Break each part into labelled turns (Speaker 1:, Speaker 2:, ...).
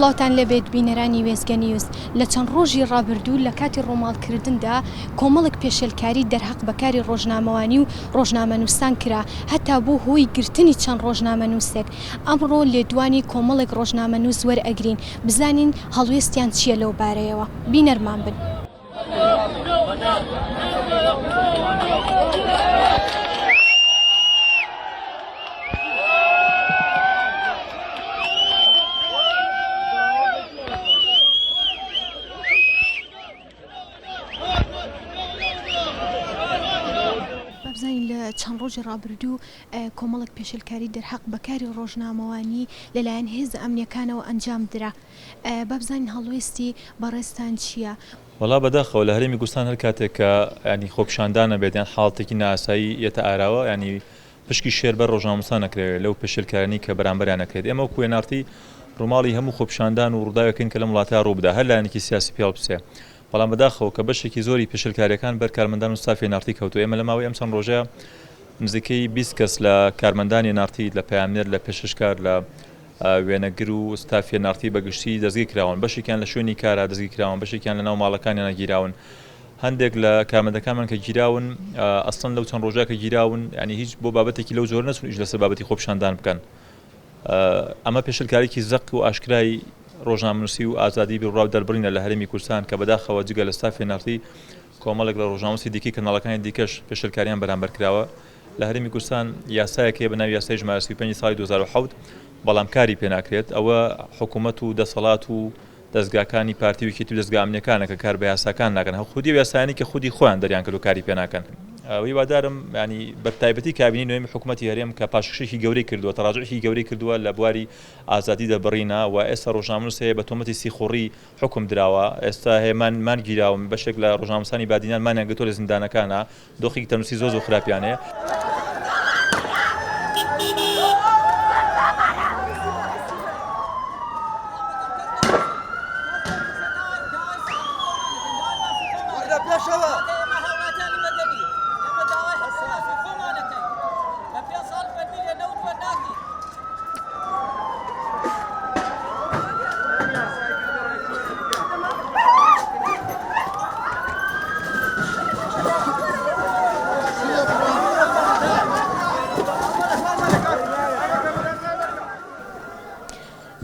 Speaker 1: سڵاوتان لەبێت بینەرانی وێزگە نیوز لە چەند ڕۆژی ڕابردوو لە کاتی ڕۆماڵکردندا کۆمەڵک پێشێلکاری دەرهەق بەکاری ڕۆژنامەوانی و ڕۆژنامە نووسان کرا هەتا بوو هۆی گرتنی چەند ڕۆژنامە نووسێک ئەمڕۆ لێدوانی کۆمەڵێک ڕۆژنامەنووس وەرئەگرین بزانین هەڵوێستیان چییە لەو بارەیەوە، بینەرمان بن. بابزانین لە چەند ڕۆژی ڕابردوو کۆمەڵێک پێشێلکاری دەرهەق بە کاری ڕۆژنامەوانی لەلایەن هێزە ئەمنییەکانەوە ئەنجام درا. با بزانین هەڵوێستی بەڕێزتان چییە؟ وەڵا بەداخەوە
Speaker 2: لە هەرێمی کوردستان هەر کاتێک کە یانی خۆپیشاندانە بێت یان حاڵتێکی نائاسایی یەتە ئاراوە یانی پشکی شێر بەر ڕۆژنامەنووسان ئەکرێ لەو پێشێلکارانەی کە بەرامبەریان ئەکرێت. ئێمە وەکوو وێناڕتی ڕووماڵی هەموو خۆپیشاندان و ڕووداوێکین کە لەم وڵاتە ڕووبدا هەر لایەنێکی سیاسی پێڵبچێ بەڵام بەداخەوە کە بەشێکی زۆری پێشێلکارییەکان بەر کارمەندان و ستافی ئێنارتی کەوتووە، ئێمە لە ماوەی ئەم چەند ڕۆژە نزیکەی بیست کەس لە کارمەندانی ئێنارتی، لە پەیامنێر، لە پێشکەشکار، لە وێنەگر و ستافی ئێنارتی بە گشتی دەستگیر کراون، بەشێکیان لە شوێنی کارا دەستگیر کراون، بەشێکیان لەناو ماڵەکانیانا گیراون، هەندێک لە کارمەندەکانمان کە گیراون ئەسڵەن لەو چەند ڕۆژە کە گیراون یانی هیچ بۆ بابەتێکی لەو جۆرە نەچوون ئیش لەسەر بابەتی خۆپیشاندان بکەن ئەمە پێشلکاریکی زەق و ئاشکرای ڕۆژنامەنووسی و ئازادی بیرڕاو دەربڕینە لە هەرێمی کوردستان کە بەداخەوە جگە لە ستافی نەڕتی کۆمەڵێک لە ڕۆژنامەنووسی دیکەی کەناڵەکانی دیکەش پێشلکاریان بەرامبەر کراوە لە هەرێمی کوردستان یاسایەک هەیە بە ناوی یاسای ژمارە 35 ساڵی 2007 بەڵام کاری پێناکرێت ئەوە حکوومەت و دەسەڵات و دەزگاکانی پارتی و یەکێتی و دەزگا ئەمنیەکانە کە کار بە یاساکان ناکەن هەو خودی و یاسایانی کە خودی خۆیان دەریان کردو کاری پێ ناکەن هیوادارم ینی بەتایبەتی کابینی نوێمی حکوومەتتی هەرێم کە پاشکشێکی گەورەی کردووە تەڕاجعێکی گەورەی کردووە لە بواری ئازادی دەربڕینە و ئێستا ڕۆژنامنووس هەیە بە تۆمەتی سیخوڕی حکم دراوە ئێستا هێمان مانگیراوم بەشێک لە ڕۆژنامەسانی بادینان مانیان گرتووە لە زیندانەکانە دۆخێکی تەندروستی زۆر زۆر خراپیان هەیە.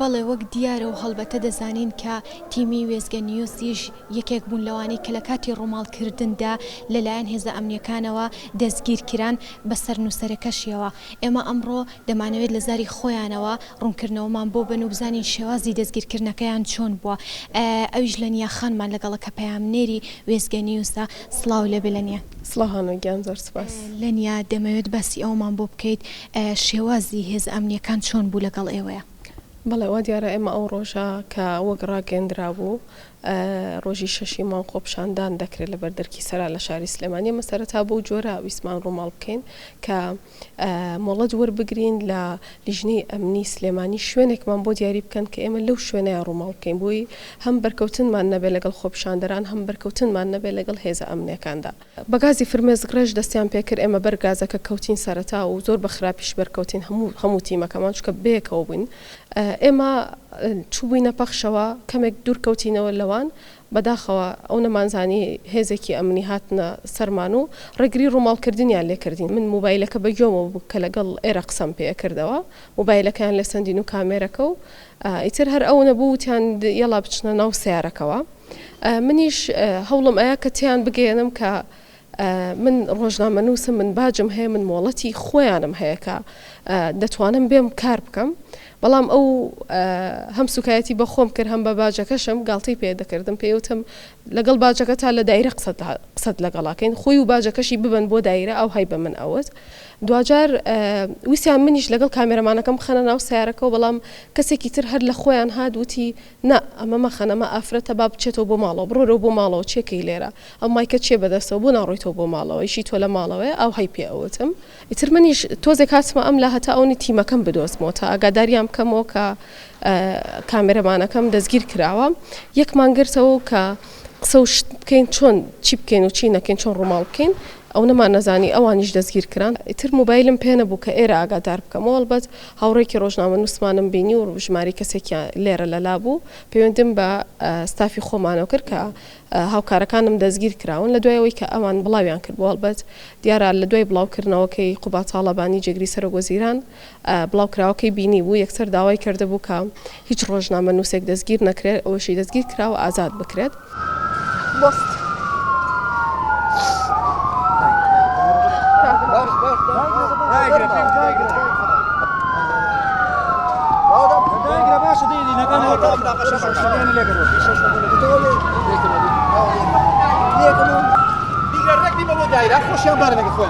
Speaker 1: بەڵێ وەک دیارە و هەڵبەتە دەزانین کە تیمی وێستگە نیوزیش یەکێک بوون لەوانەی کە لە کاتی ڕووماڵکردندا لەلایەن هێزە ئەمنیەکانەوە دەستگیرکران بەسەر نووسەرەکەشیەوە ئێمە ئەمڕۆ دەمانەوێت لە زاری خۆیانەوە ڕوونکردنەوەمان بۆ بەن و بزانین شێوازی دەستگیرکردنەکەیان چۆن بووە، ئەویش لەنیا خانمان لەگەڵە کە پەیامنێری وێستگە نیوزە، سڵاو لێبێ لەنیا. سڵاو هانۆ گیان زۆر
Speaker 3: سوپاس. لەنیا دەمەوێت
Speaker 1: باسی ئەوەمان بۆ بکەیت شێوازی هێزە ئەمنییەکان چۆن بوو لەگەڵ ئێوەیە؟ بەڵێ وا دیارە
Speaker 3: ئێمە ئەو ڕۆژە کە وەک ڕاگەیەندرابوو ڕۆژی شەشی مانگ خۆپیشاندان دەکرێت لە بەر دەرکی سەرا لە شاری سلێمانی ئێمە سەرەتا بەو جۆرە ویستمان ڕووماڵ بکەین کە مۆڵەت وەربگرین لە لیژنەی ئەمنی سلێمانی شوێنێکمان بۆ دیاری بکەن کە ئێمە لەو شوێنەیە ڕووماڵ بکەین بۆی هەم بەرکەوتنمان نەبێت لەگەڵ خۆپیشاندەران هەم بەرکەوتنمان نەبێت لەگەڵ هێزە ئەمنیەکاندا. بە گازی فرمێسک ڕێژ دەستیان پێکرد ئێمە بەر گازەکە کەوتین سەرەتا و زۆر بە خراپیش بەرکەوتین هەموو هەموو تیمەکەمان چونکە بەیەکەوە بووین ئێمە چووبووینە پەخشەوە کەمێک دوور کەوتینەوە لەوان بەداخەوە ئەو نەمانزانی هێزێکی ئەمنی هاتنە سەرمان و ڕێگری ڕووماڵکردنیان لێکردین من موبایلەکە بەگوێمەوە بوو کە لەگەڵ ئێرە قسەم پێ ئەکردەوە موبایلەکەیان لێسەندین و کامێرەکە و ئیتر هەر ئەونە بوو وتیان یەڵا بچنە ناو سەیارەکەوە منیش هەوڵم ئەیا کە تیان بگەێنم کە من ڕۆژنامەنووسم من باجم هەیە من مۆڵەتی خۆیانم هەیەکە دەتوانم بێم کار بکەم بەڵام ئەو هەم سوکایەتی بە خۆم کرد هەم بە باجەکەشم گاڵتەی پێ دەکردم پێوتم لەگەڵ باجەکە تا لە دایرە قسەت لەگەڵاکەین خۆی و باجەکەشی ببن بۆ دایرە ئەو هەی بە من ئەوت دواجار ویستیان منیش لەگەڵ کامێرەمانەکەم بخەنە ناو سەیارەکەوە بەڵام کەسێکی تر هەر لە خۆیان هات وتی نا ئەمە مەخەن ئەمە ئافرەتە با بچێتەوە بۆ ماڵەوە بڕۆرەوە بۆ ماڵەوە چێکەی لێرە ئەو مایکەت چیە بەدەستەوە بۆ ناڕۆیتەوە بۆ ماڵەوە ئیشی تۆ لە ماڵەوەیە ئاوهای پێ ئەوتم ئیتر منیش تۆزێک هاتمە ئەم لا هەتا ئەونی تیمەکەم بدۆزمەوە تا ئاگاداریان بکەمەوە کە کامێرەمانەکەم دەستگیر کراوە یەکمان گرتەوە کە قسە و شت بکەین چۆن چی بکەین و چی نەکەین چۆن ڕووماڵ بکەین ئەو نەمان نەزانی ئەوانیش دەستگیر کران ئیتر موبایلم پێ نەبوو کە ئێرە ئاگادار بکەم وەڵبەت هاوڕێکی ڕۆژنامە نووسمانم بینی و ژماری کەسێکیان لێرە لەلا بوو پەیوەندیم بە ستافی خۆمانەوە کرد کە هاوکارەکانم دەستگیر کراون لە دوای ئەوەی کە ئەوان بڵاویان کرد بۆ هەڵبەت دیارە لە دوای بڵاوکردنەوەکەی قوباتاڵەبانی جێگری سەرۆک وەزیران بڵاوکراوەکەی بینیبوو، یەکسەر داوای کردبوو کە هیچ ڕۆژنامەنووسێک دەستگیر نەکرێت، ئەوەشی دەستگیر کراوە ئازاد بکرێت.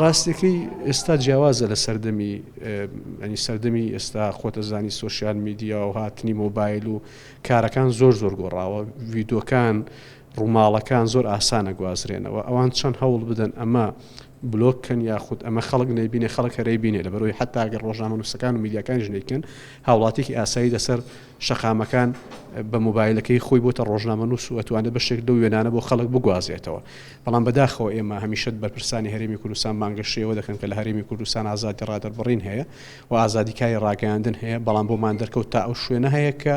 Speaker 4: ڕاستەکەی ئێستا جیاوازە لە سەردەمی ئەنی سەردەمی ئێستا خۆتەزانی سوسیال میدیا و هاتنی مۆبایل و کارەکان زۆر زۆر گۆڕاوە ویدۆکان ڕووماڵەکان زۆر ئاسانە گوازرێنەوە ئەوان چەند هەوڵ بدەن ئەمە بلۆک کەن یاخود ئەمە خەڵک نەیبینێ خەڵک هەرەی بینێ لەبەرەوەی حتا گەر ڕۆژنامە نووسەکان و میدیاکانیش نیکەن هاوڵاتێکی ئاسایی لەسەر شەقامەکان بە موبایلەکەی خۆی بۆتە ڕۆژنامە نووس و ئەتوانێت بەشێک لەو وێنانە بۆ خەڵک بگوازێتەوە بەڵام بەداخەوە ئێمە هەمیشت بەرپرسانی هەرێمی کوردستان بانگەشەوە دەکەن کە لە هەرێمی کوردستان ئازادی ڕادەربڕین هەیە و ئازادیکاری ڕاگەاندن هەیە بەڵام بۆمان دەرکەوت تا ئەو شوێنە هەیە کە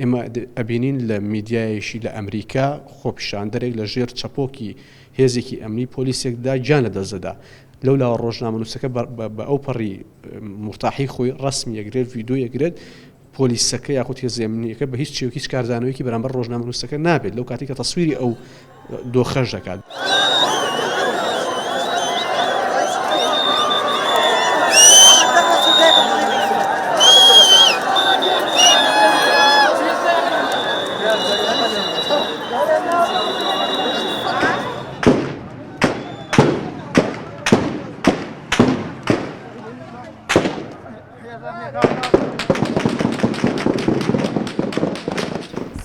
Speaker 4: ئێمە ئەبینین لە میدیایەیشی لە ئەمریکا خۆپیشاندەرێک لە ژێر چەپۆکی هێزێکی ئەمنی پۆلیسێکدا گیان لە دەست دەدا. لەو لاوە ڕۆژنامەنووسەکە بە ئەو پەڕی مورتاحی خۆی ڕەسمی ئەگرێت ڤیدۆ ئەگرێت پۆلیسەکە یاخود هێزێمنیەکە بە هیچ چێوکی هیچ کاردانەوەیکی بەرامبەر ڕۆژنامەنووسەکە نابێت لەو کاتی کە تەسویری ئەو دۆخەش دەکات.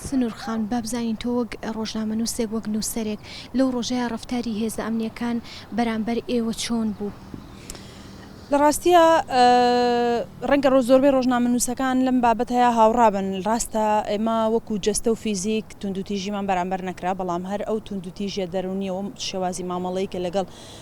Speaker 1: سنور خان، با بزانین تۆ وەک ڕۆژنامەنووسێک، وەک نووسەرێک لەو ڕۆژەیا ڕەفتاری هێزە ئەمنییەکان بەرامبەر ئێوە چۆن بوو؟
Speaker 5: لە ڕاستیە ڕەنگە ڕۆ زۆربەی ڕۆژنامەنووسەکان لەم بابەت هەیە هاوڕابن ڕاستە ئێمە وەکو جەستە و فیزیک توندوتیژیمان بەرامبەر نەکرا بەڵام هەر ئەو توندوتیژە دەرونیەوە شێوازی مامەڵەی کە لەگەڵ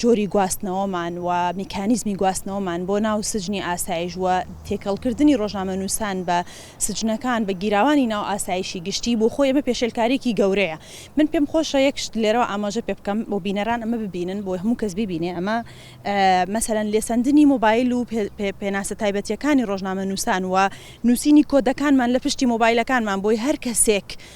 Speaker 5: جۆری گواستنەوەمان و میکانیزمی گواستنەوەمان بۆ ناو سجنی ئاسایش و تێکەڵکردنی ڕۆژنامەنووسان بە سجنەکان بە گیراوانی ناو ئاسایشی گشتی بۆ خۆی ئەمە پێشێلکاریەکی گەورەیە من پێم خۆشە یەک شت لێرەوە ئاماژە پێ بکەم بۆ بینەران ئەمە ببینن بۆ هەموو کەس ببینێ ئەمە مەسەرەن لێسەندنی مۆبایل و پێناسە تایبەتیەکانی ڕۆژنامەنووسان و نووسینی کۆدەکانمان لە پشتی مۆبایلەکانمان بۆی هەر کەسێک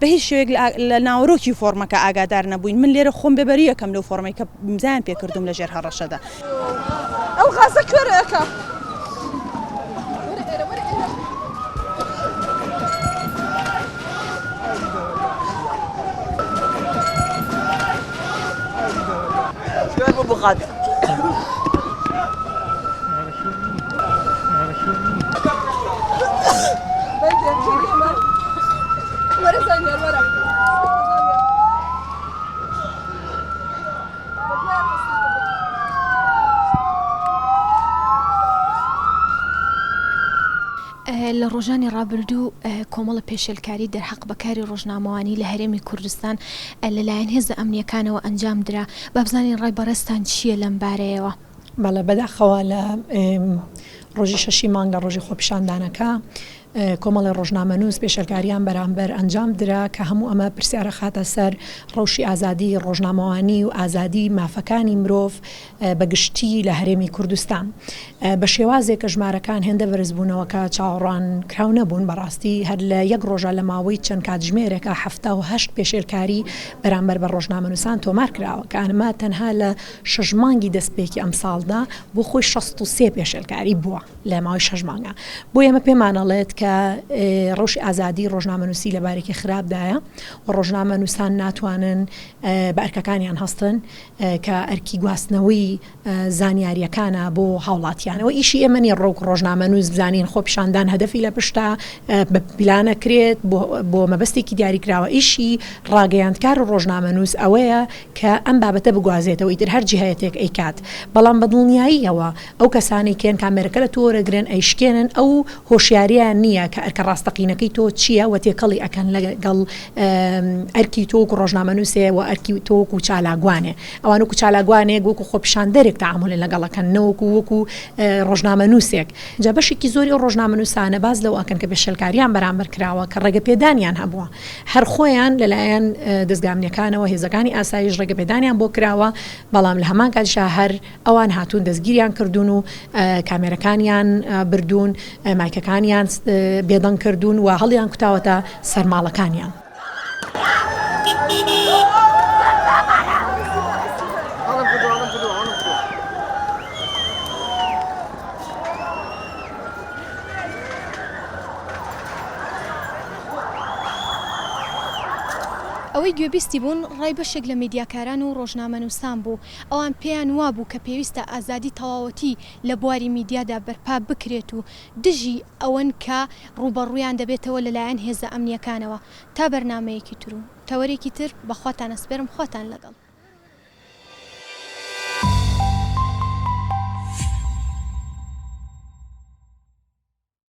Speaker 5: بە هیچ شێوەیەک لە ناوەرۆکی فۆڕمەکە ئاگادار نەبووین، من لێرە خۆم بێ بەری ئەکەم لەو فۆڕمەی کە ئیمزایان پێ کردووم لە ژێر هەڕەشەدا.
Speaker 1: لە ڕۆژانی ڕابردوو کۆمەڵە پێشێلکاری دەرحەق بەکاری ڕۆژنامەوانی لە هەرێمی کوردستان لەلایەن هێزە ئەمنیەکانەوە ئەنجام درا بابزانین ڕای بەڕێستان چییە لەم بارەیەوە. بەڵێ بەداخەوە
Speaker 6: لە ڕۆژی شەشی مانگ لە ڕۆژی خۆپیشاندانەکە کۆمەڵی ڕۆژنامەنووس پێشەلکاریان بەرامبەر ئەنجام درا کە هەموو ئەمە پرسیارە خاتە سەر ڕەوشی ئازادی ڕۆژنامەوانی و ئازادی مافەکانی مرۆڤ بەگشتی لە هەرێمی کوردستان بە شێوازێک کە ژمارەکان هێندە بەرزبوونەوەکە چاوەڕوان کراو نەبوون بەڕاستی هەر لە یەک ڕۆژە لە ماوەی چەند کاتژمێرێکە هەهشت پێشێلکاری بەرامبەر بە ڕۆژنامەنووسان تۆمار کراوە کە ئەمە تەنها لە شەش مانگی دەستپێکی ئەمساڵدا بۆ خۆی شەست و سێ پێشێلکاری بووە لە ماوەی شەش مانگا بۆ ئێمە پێمان ئەڵێت کە ڕەوشی ئازادی ڕۆژنامەنووسی لە بارێکی خراپدایە و ڕۆژنامە نووسان ناتوانن بە ئەرکەکانیان هەستن کە ئەرکی گواستنەوەی زانیاریەکانە بۆ هاوڵاتیانەوە ئیشی ئێمە نیە ڕۆک ڕۆژنامە نووس بزانین خۆ پیشاندان هەدەفی لە پشتا بە پیلانەکرێت بۆ مەبەستێکی دیاریکراوە ئیشی ڕاگەیاندکار و ڕۆژنامە نووس ئەوەیە کە ئەم بابەتە بگوازێتەوە ئیتر هەر جهەتێک ئەیکات بەڵام بە دڵنیاییەوە ئەو کەسانەی کێن کامێرەکە لە تۆ وەرەگرن ئەیشکێنن ئەو هۆشیاریەیان نییە کە ئەرکە ڕاستەقینەکەی تۆ چییە وە تێکەڵی ئەکەن لەگەڵ ئەرکی تۆ وەکو ڕۆژنامەنووسێ وە ئەرکی تۆ وەکو چالاکوانێ ئەوان وەکو چالاکوانێک وەکو خۆپیشاندەرێک تەعامولێ لەگەڵ ئەکەن نەوەکو وەکو ڕۆژنامەنووسێک جا بەشێکی زۆری ئەو ڕۆژنامەنووسانە باس لەوە ئەکەن کە پێشێلکاریان بەرامبەر کراوە کە ڕێگەپێدانیان هەبووە هەر خۆیان لەلایەن دەزگا ئەمنیەکانەوە هێزەکانی ئاسایش ڕێگەپێدانیان بۆ کراوە، بەڵام لە هەمان کاتیشا هەر ئەوان هاتوون دەستگیریان کردوون و کامێرەکانیان بردوون، مایکەکانیان بێدەنگ کردوون و هەڵیانکوتاوەتە سەر ماڵەکانیان.
Speaker 1: ئەوەی گوێبیستی بوون ڕای بەشێک لە میدیاکاران و ڕۆژنامەنووسان بوو، ئەوان پێیان وابوو کە پێویستە ئازادی تەواوەتی لە بواری میدیادا بەرپا بکرێت و دژی ئەوەن کە ڕووبەڕوویان دەبێتەوە لەلایەن هێزە ئەمنییەکانەوە. تا بەرنامەیەکی تر و تەوەرێکی تر بەخواتان ئەسپێرم خواتان لەگەڵ.